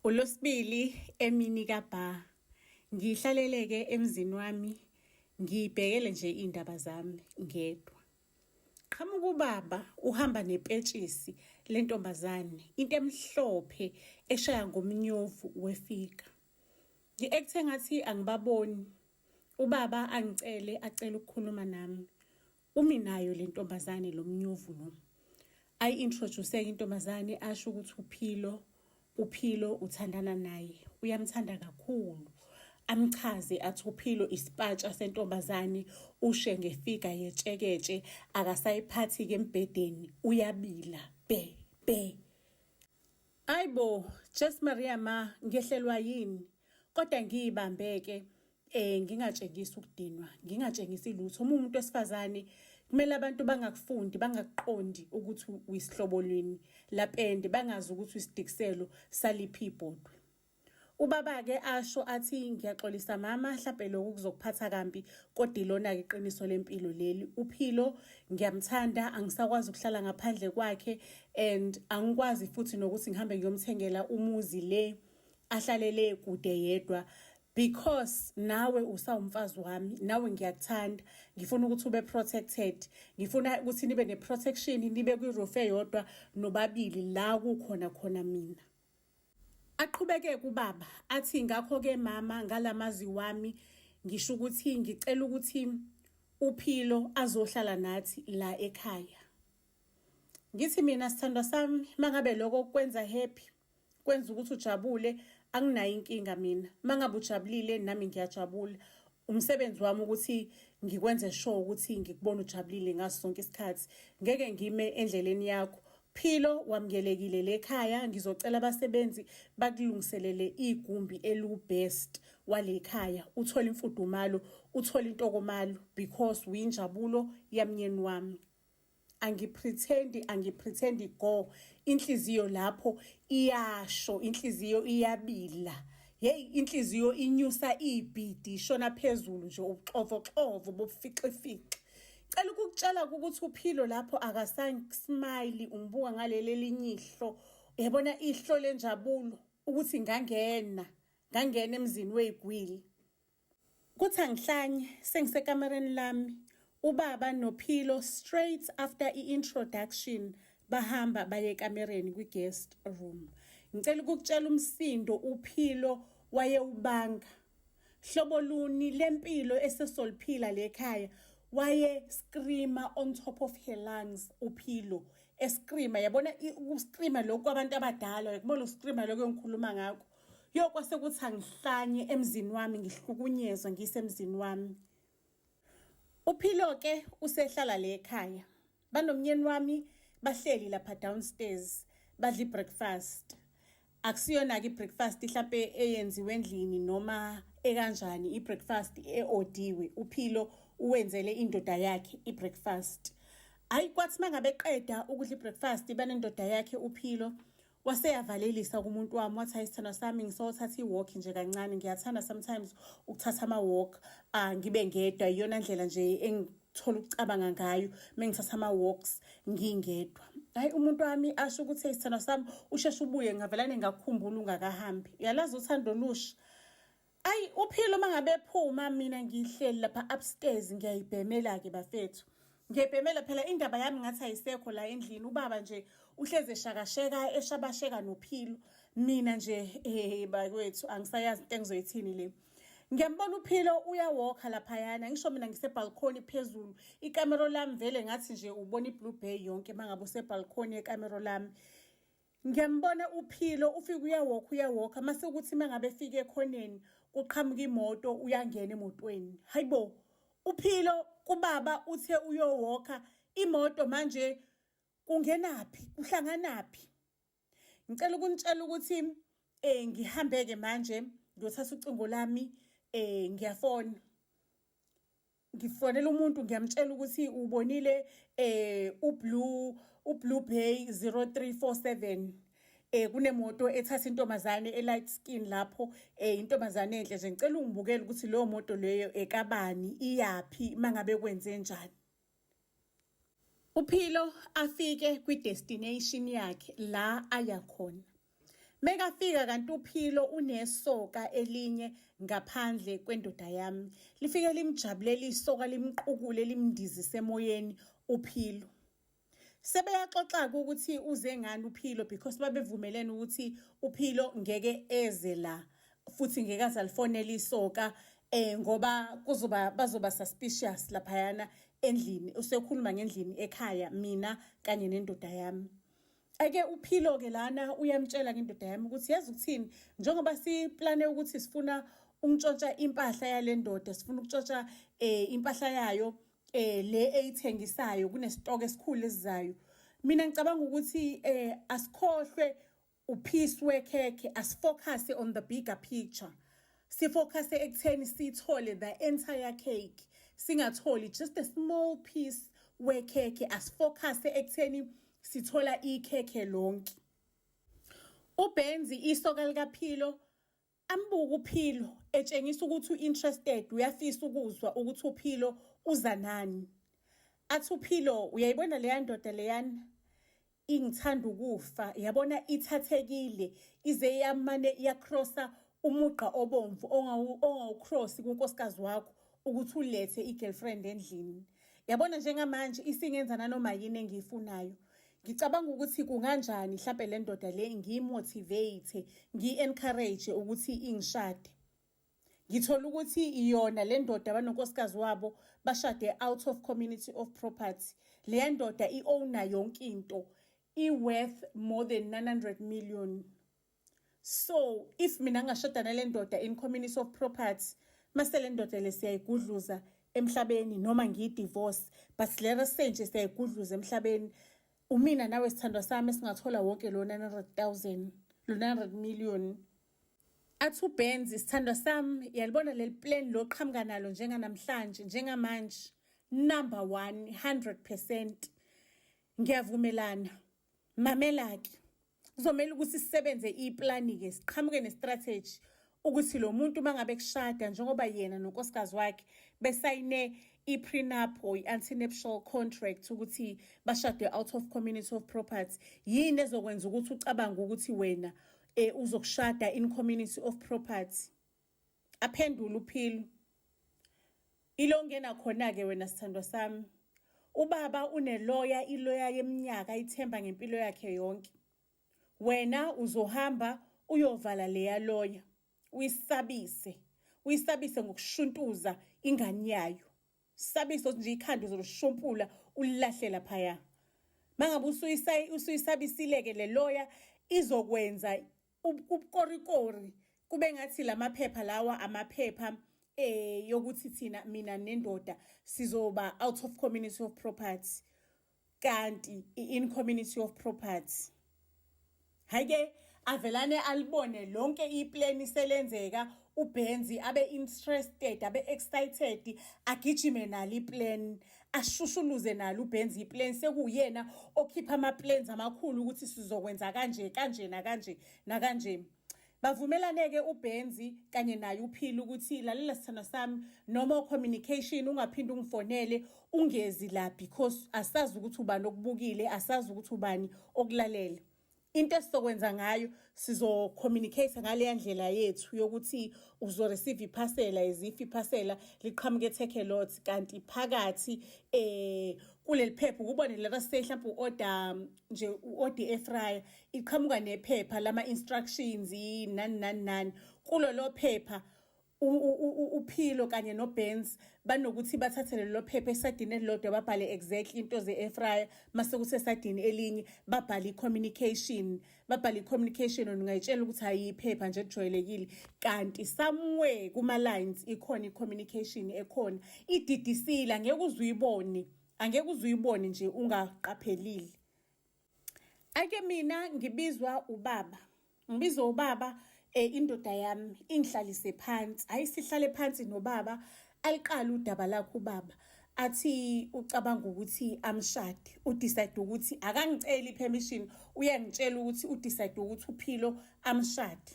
Ulosibili emini kabha ngihlaleleke emzini wami ngibhekele nje iy'ndaba zami ngedwa. Qhamuka ubaba uhamba nepetshisi lentombazane into emhlophe eshaya ngomnyovu wefika. Ngi-act engathi angibaboni. Ubaba angicele acele ukukhuluma nami. Umi nayo le ntombazane lo mnyuvu lo. Ayi-introduce-ke intombazane asho ukuthi uphilo uphilo uthandana naye uyamthanda kakhulu amchaze athi uphilo isipatsha sentombazane ushe ngefiga yetsheketshe akasayiphathi-ke embhedeni uyabila bhe bhe ayibo jes maria ma ngehlelwa yini kodwa ngiyibambeke eh ngingatshengisi ukudinwa ngingatshengisi lutho uma umuntu wesifazane kumele abantu bangakufundi bangakuqondi ukuthi uyisihlobo lwini lapende bangazi ukuthi uyisidikiselo saliphi ibhodwe ubaba-ke asho athi ngiyaxolisa mama mhlampe lokhu kuzokuphatha kambi kodwa ilona-ke iqiniso lempilo leli uphilo ngiyamthanda angisakwazi ukuhlala ngaphandle kwakhe and angikwazi futhi nokuthi ngihambe ngiyomthengela umuzi le ahlalele kude yedwa because nawe usawumfazi wami nawe ngiyakuthanda ngifuna ukuthi ube protected ngifuna ukuthi nibe neprotection nibe kwiroof eyodwa nobabili la kukhona khona mina aqhubeke kubaba athi ngakho ke mama ngalamazi wami ngisho ukuthi ngicela ukuthi uphilo azohlala nathi la ekhaya ngithi mina sithandwa sami mangabe lokho kwenza happy kwenza ukuthi ujabule anginayo inkinga mina mangabe ujabulile nami ngiyajabula umsebenzi wami ukuthi ngikwenze sure ukuthi ngikubona ujabulile ngaso sonke isikhathi ngeke ngime endleleni yakho philo wamkelekile lekhaya ngizocela abasebenzi bakulungiselele igumbi elubest walekhaya uthola imfudumalo uthola intokomalo because uyinjabulo yamnyeni wami angipretend angipretend go inhliziyo lapho iyasho inhliziyo iyabila hey inhliziyo inyusa ibhidi ishona phezulu nje ubuxovo xovo bobufixifixe cela ukukutshela ukuthi uphilo lapho akasasmile ungibuka ngaleli elinye ihlo uyabona ihlo lenjabulo ukuthi ngangena ngangena emzini weyigwili Kuthi angihlanye sengisekamereni lami ubaba nophilo straight after i-introduction bahamba baye ekamereni kwi-guest room ngicela ukukutshela umsindo uphilo wayewubanga hlobo luni lempilo esesoliphila lekhaya waye screamer on top of her lungs uphilo escreamer yabona uscreamer lokho kwabantu abadala yakubona uscreamer lokho engikhuluma ngakho Yo kwase kuthi angihlanye emzini wami ngihlukunyezwa ngisemzini wami. Uphilo ke usehlala le ekhaya. Banomnyeni wami bahleli lapha downstairs badla ibreakfast. Akusiyona ke breakfast mhlambe eyenziwe endlini noma ekanjani ibreakfast eodiwe. Uphilo uwenzele indoda yakhe ibreakfast. Hayi kwathi mangabe qeda ukudla ibreakfast banendoda yakhe uphilo. wase yavalelisa kumuntu wami wathi hayi sithandwa sami ngisothatha i-walk nje kancane ngiyathanda sometimes ukuthatha ama-walk uh, ngibe ngedwa iyona ndlela nje engithola ukucabanga ngayo uma ngithatha ama-walks ngingedwa hayi umuntu wami asho ukuthi sithandwa sami usheshe ubuye ngavelane ngakukhumbula ungakahambi uyalazi uthando olusha Ayi uphilo mangabe phuma mina ngihleli lapha upstairs ngiyayibhemela ke bafethu. Ngiyayibhemela phela indaba yami ngathi ayisekho la endlini ubaba nje uhleze shakasheka eshabasheka nophilo. Mina nje eh bakwethu angisayazi into engizoyithini le. Ngiyambona uphilo uyawalker lapha yana ngisho mina ngise balcony phezulu ikamero lami vele ngathi nje ubona iblue bay yonke mangabe use balcony yekamero lami. Ngiyambona uPhilo ufike uyawokha uyawokha mase ukuthi mangabe efika ekhoneni kuqhamuka imoto uyangena emotweni. Hayibo uPhilo kubaba uthe uyowokha imoto manje kungenaphi kuhlanganaphi. Ngicela ukunitshela ukuthi eh ngihambeke manje ngiyothatha ucingo lami eh ngiyafona. ngifonela umuntu ngiyamtshela ukuthi ubonile eh ublue ublue bay 0347 eh kunemoto ethatha intombazane elight skin lapho eh intombazane enhle nje ngicela ungibukele ukuthi leyo moto leyo ekabani iyaphi mangabe kwenze njani Uphilo afike kwi-destination yakhe la aya khona. Mekafika kanti uphilo unesoka elinye ngaphandle kwendoda yami. Lifike limjabulele isoka limqukule limndizise emoyeni uphilo. Sebeyaxoxa-ke ukuthi uze ngani uphilo because babevumelene ukuthi uphilo ngeke eze la futhi ngeke aze alifonele isoka eh ngoba kuzoba bazoba suspicious laphayana endlini usekhuluma ngendlini ekhaya mina kanye nendoda yami ake uphilo ke lana uyamtshela ke indoda yami ukuthi yazi ukuthini njengoba siplane ukuthi sifuna ukuntshotsha impahla yalendoda sifuna ukutshotsha eh impahla yayo eh le eyithengisayo kunesitoko esikhulu esizayo mina ngicabanga ukuthi eh asikhohlwe Uphisi wekhekhe asifocus on the bigger picture. Sifocus ekutheni sithole the entire cake. Singatholi just a small piece wekhekhe asifocus ekutheni sithola ikhekhe lonke. UBenzi isoka likaPhilo Ambuka uPhilo etshengisa ukuthi u-interested uyafisa ukuzwa ukuthi uPhilo uza nani. Athi uPhilo uyayibona leya ndoda leyana ingithanda ukufa yabona ithathekile ize yamane iyakrosa umugqa obomvu ongawukrosi kunkosikazi wakho ukuthi ulethe i-girlfriend endlini yabona njengamanje isingenza nanoma yini engiyifunayo Ngicabanga ukuthi kunganjani mhlampe le ndoda le ngiyimotivate, ngiyi-encourage ukuthi ingishade. Ngithola ukuthi iyona le ndoda abanonkosikazi wabo bashade out of community of property. Le ndoda i-owna yonke into, i-worth more than 900 million. so if mina ngashoda nale ndoda in community of property mase le ndoda le siyayigudluza emhlabeni noma ngiyidivorce but le resenje siyayigudluza emhlabeni umina nawe sithandwa sami singathola wonke lo 900000 lo 900 million athi ubenz isithandwa sami yalibona leli plan lo qhamuka nalo njenganamhlanje njengamanje number 1 100% ngiyavumelana Mamela-ke, kuzomele ukuthi sisebenze iplani-ke siqhamuke nestrategy ukuthi lo muntu uma ngabe kushada njengoba yena nonkosikazi wakhe besayine i-prenup or i-antinuptial contract ukuthi bashade out of community of property yini ezokwenza ukuthi ucabange ukuthi wena um uzokushada in community of property aphendula uphilo ilo ngena khona-ke wena sithandwa sami ubaba uneloya iloya yeminyaka ithemba ngempilo yakhe yonke wena uzohamba uyovala leya loya uyisabise uyisabise ngokushuntuza ingane yayo sabise nje ikhanda uzolushumpula ulilahle laphaya mangabe usuyisabisile-ke le loya izokwenza ubukorikori kube ngathi lamaphepha lawa amaphepha eh yokuthi thina mina nendoda sizoba out of community of property kanti in community of property hayike avelane alibone lonke iplan selenzeka ubenzi abe interested abe excited agijime nali plan ashushuluze nalo ubenza iplan sekuwuyena okhipha ama-plans amakhulu ukuthi sizokwenza kanje kanje nakanje nakanje bavumelane-ke ubenzi kanye naye uphile ukuthi lalela sithando sami noma communication ungaphinde ungifonele ungezi la because asazi ukuthi ubani okubukile asazi ukuthi ubani okulalele into esizokwenza ngayo sizocommunicate ngaleya ndlela yethu yokuthi uzoreceive iphasela as if iphasela liqhamuke eteke lot kanti phakathi eh kuleli phepha ukubone laba say mhlawumbe u-order nje u-order efryer iqhamuka nephepha lama-instructions nani nani nani kulolo phepha uphilo kanye nobenz banokuthi bathathe lelo phepha esadini elilodwa babhale exactly into ze-efraya mase kuthi esadini elinye babhale i-communication babhale i-communication ona ungayitshela ukuthi hhayi iphepha nje kujwayelekile kanti somewhere kuma-lines ikhona i-communication ekhona ididisile angeke uze uyibone angeke uze uyibone nje ungaqaphelile ake mina ngibizwa ubaba ngibizwa ubaba eh indoda yami ingihlalise phansi hayi sihlale phansi nobaba aliqala udaba lakho ubaba athi ucabanga ukuthi amshade udecide ukuthi akangiceli permission uyangitshela ukuthi udecide ukuthi uphilo amshade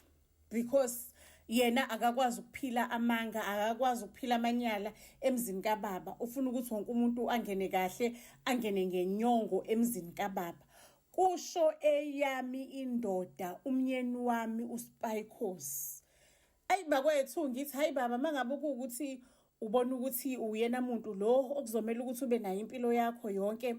because yena akakwazi ukuphila amanga akakwazi ukuphila amanyala emzini kababa ufuna ukuthi wonke umuntu angene kahle angene ngenyongo emzini kababa kusho eyami indoda umnyeni wami uSpycos ayi bakwethu ngithi hayi baba mangabe ukuthi ubona ukuthi uyena muntu lo okuzomela ukuthi ube nayo impilo yakho yonke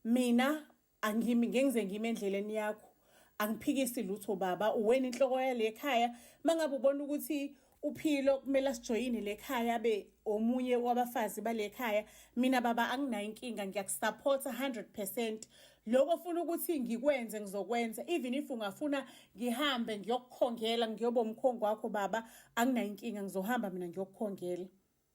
mina angimi ngengize ngime endleleni yakho angiphikisi lutho baba uwena inhloko yale khaya mangabe ubona ukuthi uphilo kumele asijoyine le khaya be omunye wabafazi bale khaya mina baba anginayo inkinga ngiyakusupporta 100% lokho funa ukuthi ngikwenze ngizokwenza even if ungafuna ngihambe ngiyokukhongela ngiyoba umkhongo wakho baba anginayo inkinga ngizohamba mina ngiyokukhongela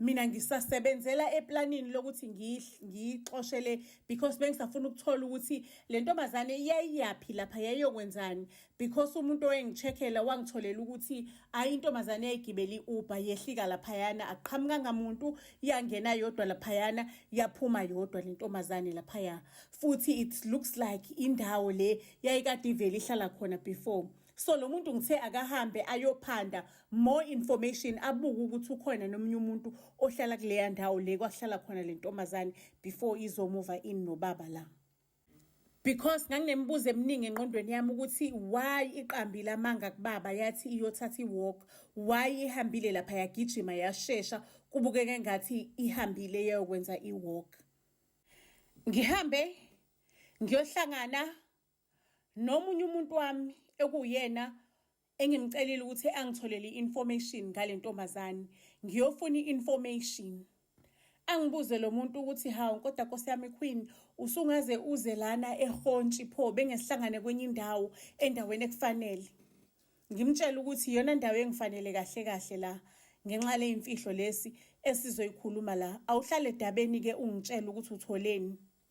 mina ngisasebenzela eplanini lokuthi ngiyixoshele because bengisafuna ukuthola ukuthi le ntombazane yayiyaphi lapha yayiyokwenzani because umuntu owengicheckela wangitholela ukuthi ayi intombazane yayigibela i-uber yehlika laphayana aqhamukanga muntu yangena yodwa laphayana yaphuma yodwa le ntombazane laphaya futhi it looks like indawo le yayikade ivele ihlala khona before so lo muntu ngithe akahambe ayophanda more information abuke ukuthi ukhona nomunye umuntu ohlala kuleya ndawo le kwahlala khona le ntombazane before izomuva in nobaba la because nganginemibuzo eminingi engqondweni yami ukuthi why iqambile amanga kubaba yathi iyothatha iwalk why ihambile lapha yagijima yashesha kubukeka engathi ihambile yayokwenza iwalk ngihambe ngiyohlangana nomunye umuntu wami ekuwuyena engimcelile ukuthi angitholele i-information ngale ntombazane ngiyofuna i-information angibuze lo muntu ukuthi hawu kodwa nkosi yami queen usungaze uze lana ehontshi pho bengesihlangane kwenye indawo endaweni ekufanele ngimtshela ukuthi iyona ndawo engifanele kahle kahle la ngenxa leyimfihlo lesi esizoyikhuluma la awuhlale edabeni ke ungitshela ukuthi utholeni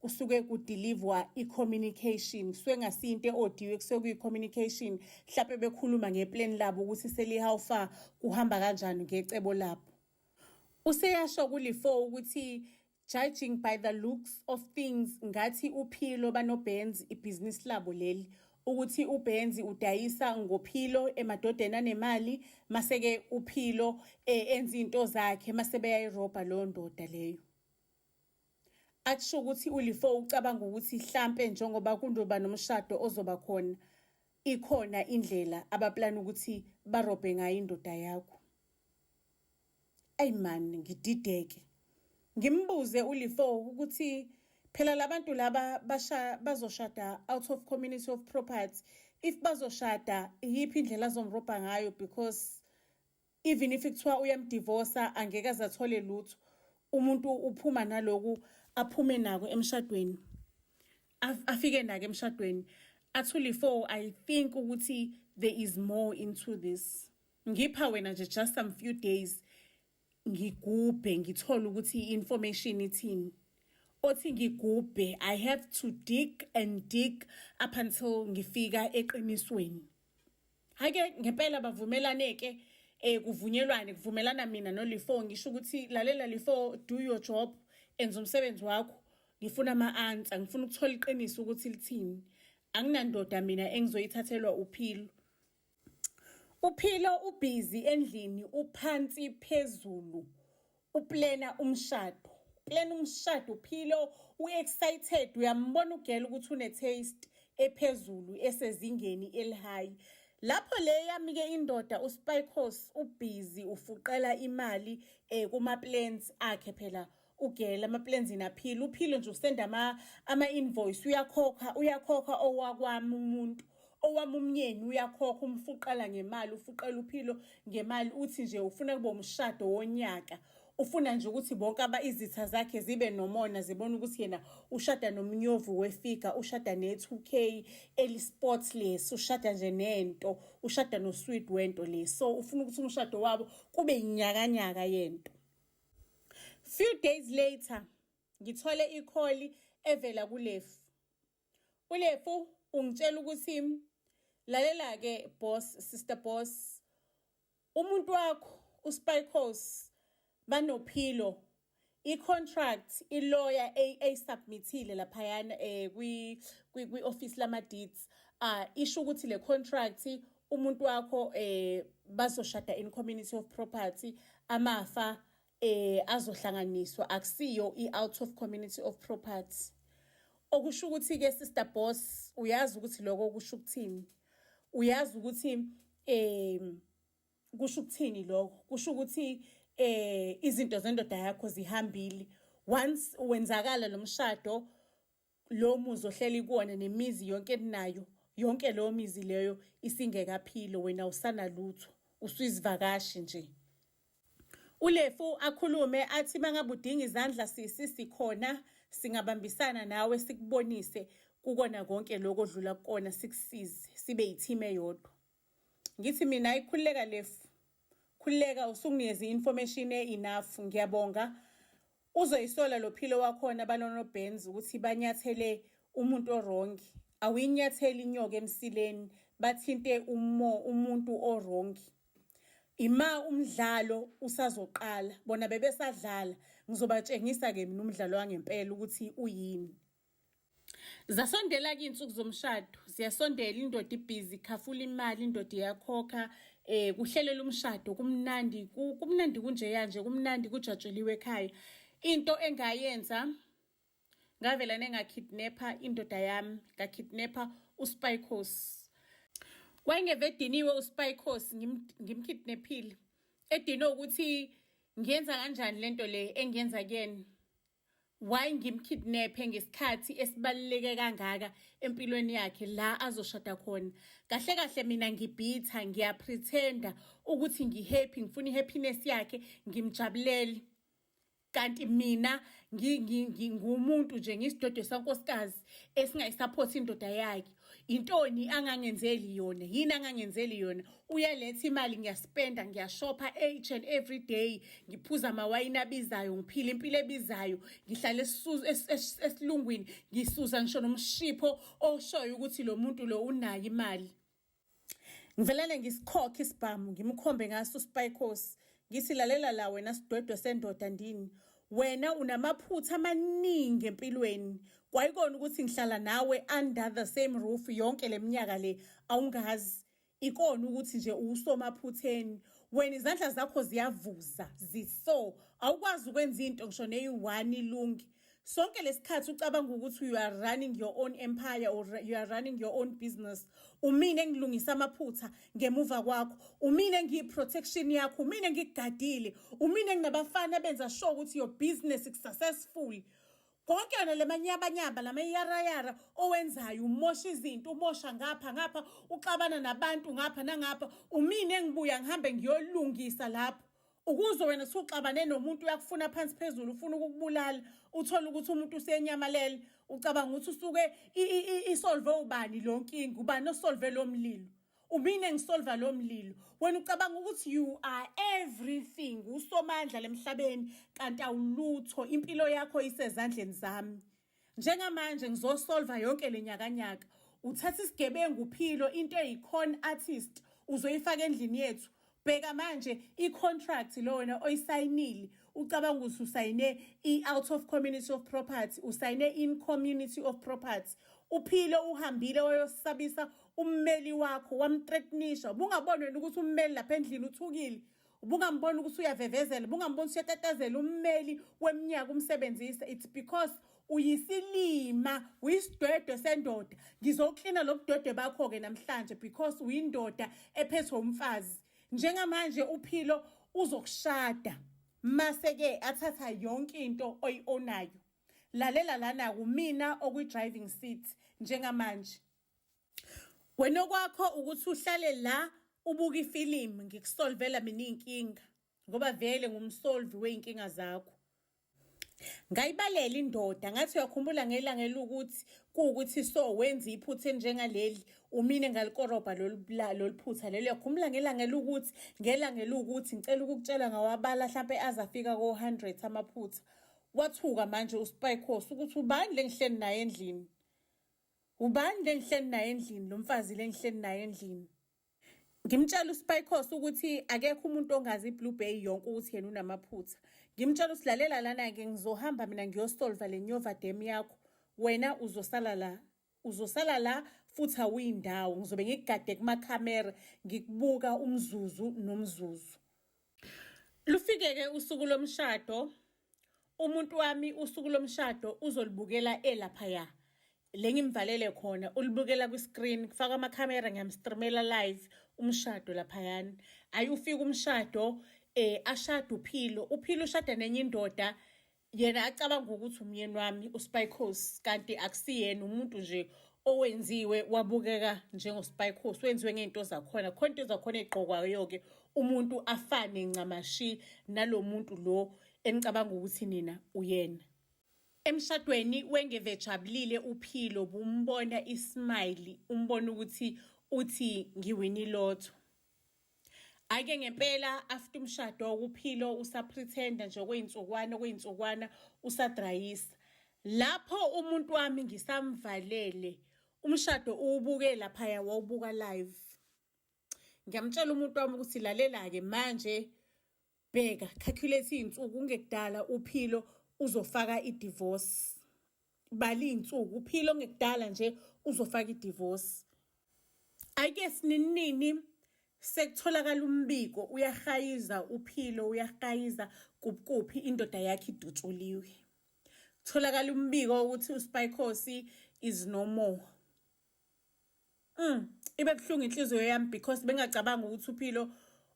kusuke kudilivwa i-communication kusuke ngasiyinto e-odiwe kusuke kuyi-communication mhlawumpe bekhuluma ngeplan labo ukuthi seli-how far kuhamba kanjani ngecebo labo useyasho kulifo ukuthi judging by the looks of things ngathi uphilo banobenz ibhizinisi labo leli ukuthi ubenzi udayisa ngophilo emadodeni anemali maseke uphilo eh, enza into zakhe masebeyayiroba leyo ndoda leyo Akusho ukuthi ulifo ucabanga ukuthi hlampe njengoba kundoba nomshado ozoba khona ikhona indlela abaplana ukuthi barobhe ngayo indoda yakho. Ayi man ngidideke. Ngimbuze ulifo ukuthi phela labantu laba basha bazoshada out of community of property if bazoshada iyiphi indlela azomrobha ngayo because even if kuthiwa uyamdivosa angeke azathole lutho umuntu uphuma naloku aphume nako emshadweni afike nake emshadweni actually for i think ukuthi there is more into this ngipha wena nje just some few days ngigubhe ngithole ukuthi information ithini othi ngigubhe i have to dig and dig up until ngifika eqinisweni Hake ngempela bavumelane ke eh kuvunyelwane kuvumelana mina noLifo ngisho ukuthi lalela Lifo do your job enza umsebenzi wakho ngifuna ama answer ngifuna ukuthola iqiniso ukuthi lithini anginandoda mina engizoyithathelwa uphilo uphilo ubhizi endlini uphansi phezulu uplena umshado plan umshado uphilo uexcited uyambona ugela ukuthi une taste ephezulu esezingeni elihigh lapho le yami ke indoda uspikos ubhizi ufuqela imali eh kuma plans akhe phela ugela ama plans inaphila uphilo nje usenda ama ama invoice uyakhokha uyakhokha owakwami umuntu owami umnyeni uyakhokha umfuqela ngemali ufuqela uphilo ngemali uthi nje ufuna kube umshado wonyaka ufuna nje ukuthi bonke aba izitha zakhe zibe nomona zibona ukuthi yena ushada nomnyovu wefiga ushada ne-2k eli-sports lesi ushada nje nento ushada nosweet wento le so ufuna ukuthi umshado wabo kube yinyakanyaka yento few days later ngithole ikholi evela kulefu ulefu ungitshela ukuthi lalela-ke boss sister boss umuntu wakho uspycos banophilo i-contract iloya eyisubmithile laphayana um kwi-ofisi lama-deeds um isho ukuthi le contract umuntu wakho um bazoshada in community of property amafa eh azohlanganiswa akusiyo i-out of community of property okusho ukuthi-ke sister boss uyazi ukuthi lokho kusho ukuthini uyazi ukuthi um kusho ukuthini lokho kusho ukuthi eh izinto zendoda yakho zihambile once wenzakala lomshado lo muzi ohleli kuwona nemizi yonke eninayo yonke leyo mizi leyo isingekaphilo wena usanalutho usuyizivakashi nje ulefu akhulume athi mangabe udinga izandla sisi sikhona singabambisana nawe sikubonise kukona konke lokho odlula kukona sikusize sibe yithime yodwa ngithi mina ayikhululeka lefu khululeka usunginikeze i-information e-enough ngiyabonga uzoyisola lo philo wakhona balonobhenzi ukuthi banyathele umuntu orongi awuyinyatheli inyoka emsileni bathinte umo umuntu orongi ima umdlalo usazoqala bona bebesadlala ngizobatshengisa-ke mina umdlalo wangempela ukuthi uyini zasondela-ke iy'nsuku zomshado ziyasondela indoda ibhizi khafula imali indoda iyakhokha um kuhlelela umshado kumnandi kumnandi kunjeya nje kumnandi kujatshuliwe ekhaya into engayenza ngavela nengakidnapha indoda yami ngakidnapha uspycos wayengeve ediniwe uspycos ngimkidnaphile edinwe ukuthi ngiyenza kanjani le nto le engiyenza kuyena Why ngimkidnaphe ngesikhathi esibaluleke kangaka empilweni yakhe la azoshada khona. Kahle kahle mina ngibhitha ngiyapretenda ukuthi ngihappy ngifuna ihappiness yakhe ngimjabulele. Kanti mina ngingumuntu nje ngisidodo sankosikazi esingayisupport indoda yakhe. Intoni angangenzeli yona yini angangenzeli yona uyaletha imali ngiyaspenda ngiyashopha each and every day ngiphuza amawayini abizayo ngiphila impilo ebizayo ngihlale esilungwini ngisuza ngisho nomshipho oshoyo ukuthi lo muntu lo unayo imali Ngivelele ngisikhokhe isibhamu ngimkhombe ngaso uSpycos ngithi lalela la wena sidwedwe sendoda ndini wena unamaphutha amaningi empilweni kwayikona ukuthi ngihlala nawe under the same roof yonke leminyaka le awungazi ikona ukuthi nje uwusomaphutheni wena izandla zakho ziyavuza ziso awukwazi ukwenza into ngisho neyi-one ilungi sonke lesikhathi ucabanga ukuthi you are running your own empire or you are running your own business umine ngilungisa amaphutha ngemuva kwakho umine ngiyiprotection yakho umine ngikugadile umine nginabafana abenza sure ukuthi your business is successful konke yona le manyabanyaba la mayarayara owenzayo umosha izinto umosha ngapha ngapha uxabana nabantu ngapha nangapha umine engibuya ngihambe ngiyolungisa lapho ukuzwe wena suxabane nomuntu uyakufuna phansi phezulu ufuna ukukubulala uthole ukuthi umuntu usenyamalele ucabanga ukuthi usuke isolve ubani lo nkinga ubani osolve lo mlilo umine ngisolva lo mlilo wena ucabanga ukuthi you are everything usomandla lemhlabeni kanti awulutho impilo yakho isezandleni zami njengamanje ngizosolva yonke le nyakanyaka uthatha isigebengu philo into eyi-con artist uzoyifaka endlini yethu bheka manje i-contract lo wena oyisayinile ucabanga ukuthi usayine i-out of community of property usayine in community of property uphile uhambile wayosabisa ummeli wakho wamthreatnisha bungaboni wena ukuthi ummeli lapha endlini uthukile ubungamboni ukuthi uyavevezela ubungamboni ukuthi uyatatazela ummeli weminyaka umsebenzisa it's because uyisilima uyisidwedwe sendoda ngizoklina lobudwedwe bakho ke namhlanje because uyindoda ephethwe umfazi njengamanje uphilo uzokushada mase ke athatha yonke into oyionayo lalela lana kumina okwi driving seat njengamanje Wena okwakho ukuthi uhlale la ubuka ifilimu ngikusolvela mina iy'nkinga ngoba vele ngumsolvi wey'nkinga zakho. Ngayibalela indoda ngathi uyakhumbula ngelanga elukuthi kuwukuthi so wenza iphutha elinjengaleli umine ngalikorobha lolu phutha lelo uyakhumbula ngelanga elukuthi ngelanga elukuthi ngicela ukukutshela ngawabala hlampe aze afika ko-hundred amaphutha wathuka manje uspycos ukuthi ubani le ngihleli naye endlini Ubani lengihleli naye endlini lo mfazi lengihleli naye endlini? Ngimtshela uSpycos ukuthi akekho umuntu ongazi iBlue Bay yonke ukuthi yena unamaphutha. Ngimtshela ukuthi lalela lana-ke ngizohamba mina ngiyosolva le nyova dem yakho. Wena uzosala la. Uzosala la futhi awuyindawo. Ngizobe ngikugade kumakhamera ngikubuka umzuzu nomzuzu. Lufike-ke usuku lomshado umuntu wami usuku lomshado uzolibukela elaphaya le ngimvalele khona ulibukela kwi-screen kufaka amakhamera ngiyamstreamela live umshado laphayana hhayi ufike umshado um ashade uphilo uphilo ushada nenye indoda yena acabanga ukuthi umyeni wami uspycos kanti akusiyena umuntu nje owenziwe wabukeka njengospycos wenziwe ngey'nto zakhona khona into zakhona ey'gqokwayo-ke umuntu afane ncamashi nalo muntu lo enicabanga ukuthi nina uyena emshadweni wengevejabulile uphilo bumbona ismayili umbona ukuthi uthi ngiwinilotho Ake ngempela after umshado ukuphilo usapretender nje okuyinsukwana okuyinsukwana usadrayisa. Lapho umuntu wami ngisamvalele umshado uwubuke lapha ya wawubuka live. Ngiyamtshela umuntu wami ukuthi lalela ke manje bheka calculate iy'nsuku ungekudala uphilo uzofaka i-divorce bala iy'nsuku uphilo ongekudala nje uzofaka i-divorce ayike sininini sekutholakala umbiko uyahayiza uphilo uyahayiza kuphi indoda yakhe idutshuliwe kutholakala umbiko ukuthi uspycosi is no more Mm, ibe buhlungu inhliziyo yami because bengacabanga ukuthi uphilo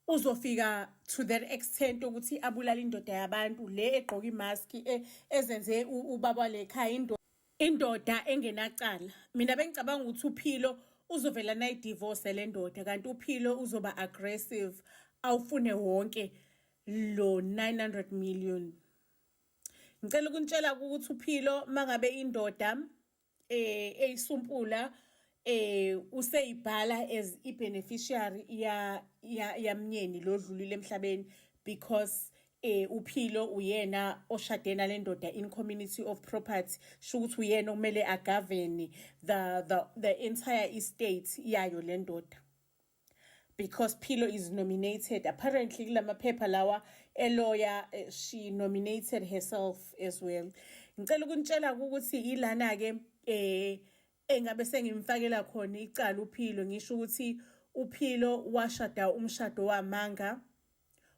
uzofika to that extent ukuthi abulale indoda yabantu le egqoka imask e, ezenze ubaba lekhaya indoda indoda engenacala mina bengicabanga ukuthi uphilo uzovela nayi divorce le ndoda kanti uphilo uzoba aggressive awufune wonke lo 900 million ngicela ukuntshela ukuthi uphilo mangabe indoda eh eyisumpula eh useyibhala as i beneficiary ya yamnyeni lodlulile emhlabeni because eh uphilo uyena oshade nalendoda in community of property shukuthi uyena okumele agovern the the the entire estate yayo lendoda because Philo is nominated. Apparently, kulamaphepha lawa eloya eh, she nominated herself as well. Ngicela ukunitshela ukuthi ilana ke eh engabe sengimfakela khona icala uPhilo ngisho ukuthi uPhilo washada umshado wamanga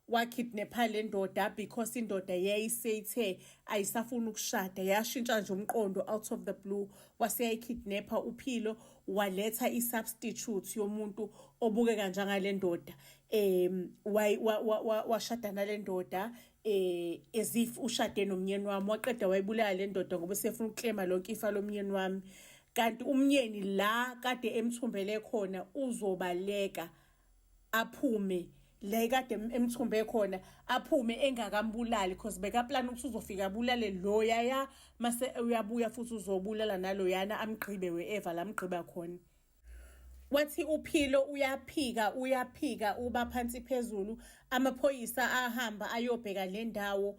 wakidnapha le ndoda because indoda yayiseyithe ayisafuni ukushada yashintsha nje umqondo out of the blue waseyayikidnapha uphilo waletha i-substitute yomuntu obukeka njangale ndoda um washada nale ndoda eh as if ushade nomnyeni wami waqeda wayibulala le ndoda ngoba sefuna ukuklema lonke ifa lomnyeni wami kanti umnyeni la kade emthumbele khona uzobaleka aphume le kade emthumbe khona aphume engakambulali because bekaplan ukuthi uzofika abulale loyaya mase uyabuya futhi uzobulala naloyana amgqibe we-eva lamgqiba khona wathi uphilo uyaphika uyaphika uba phansi phezulu amaphoyisa ahamba ayobheka le ndawo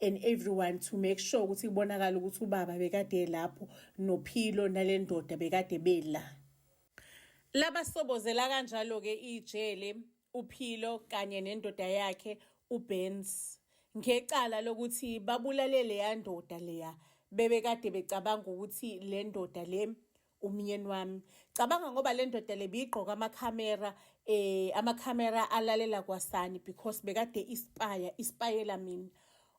and everyone to make sure ukuthi kubonakala ukuthi ubaba bekade lapho nophilo nalendoda bekade bela laba sobozela kanjalo ke ijele uphilo kanye nendoda yakhe uBenz ngecala lokuthi babulale leya ndoda leya bebekade becabanga ukuthi le ndoda le umyeni wami cabanga ngoba le ndoda le biyigqoka amakhamera eh amakhamera alalela kwasani because bekade ispaya ispayela mina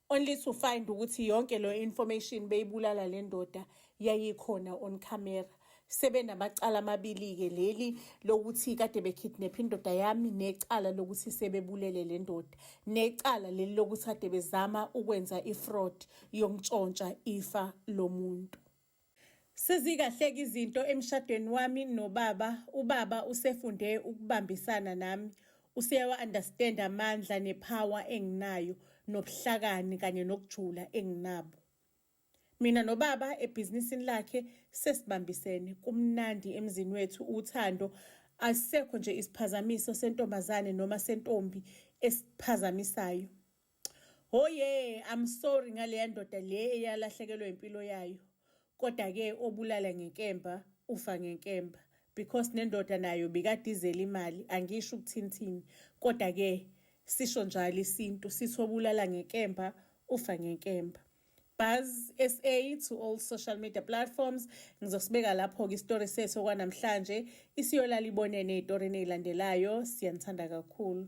only to find ukuthi yonke lo information beyibulala le ndoda yayikhona on camera sebenamacala amabili-ke leli lokuthi kade bekidnapha indoda yami necala lokuthi sebebulele le ndoda necala leli lokuthi kade bezama ukwenza ifraud yokuntshontsha ifa lomuntu Sezikahleka izinto emshadweni wami nobaba, ubaba usefunde ukubambisana nami. Useyawa understand amandla nepower enginayo nobuhlakani kanye nokujula enginabo. Mina nobaba ebhizinisini lakhe sesibambisene kumnandi emzini wethu uthando asisekho nje isiphazamiso sentombazane noma sentombi esiphazamisayo. Hoye, I'm sorry ngaleya ndoda le eyalahlekelwa impilo yayo. Kodwa ke obulala ngenkemba ufa ngenkemba because nendoda nayo bikadizela imali angisho ukuthinthini kodwa ke sisho njalo isintu sithi obulala ngenkemba ufa ngenkemba. Buzz SA to all social media platforms ngizosibeka lapho ke istory sethu okwanamhlanje isiyolala ibonene ezitorini ezilandelayo siyanithanda kakhulu.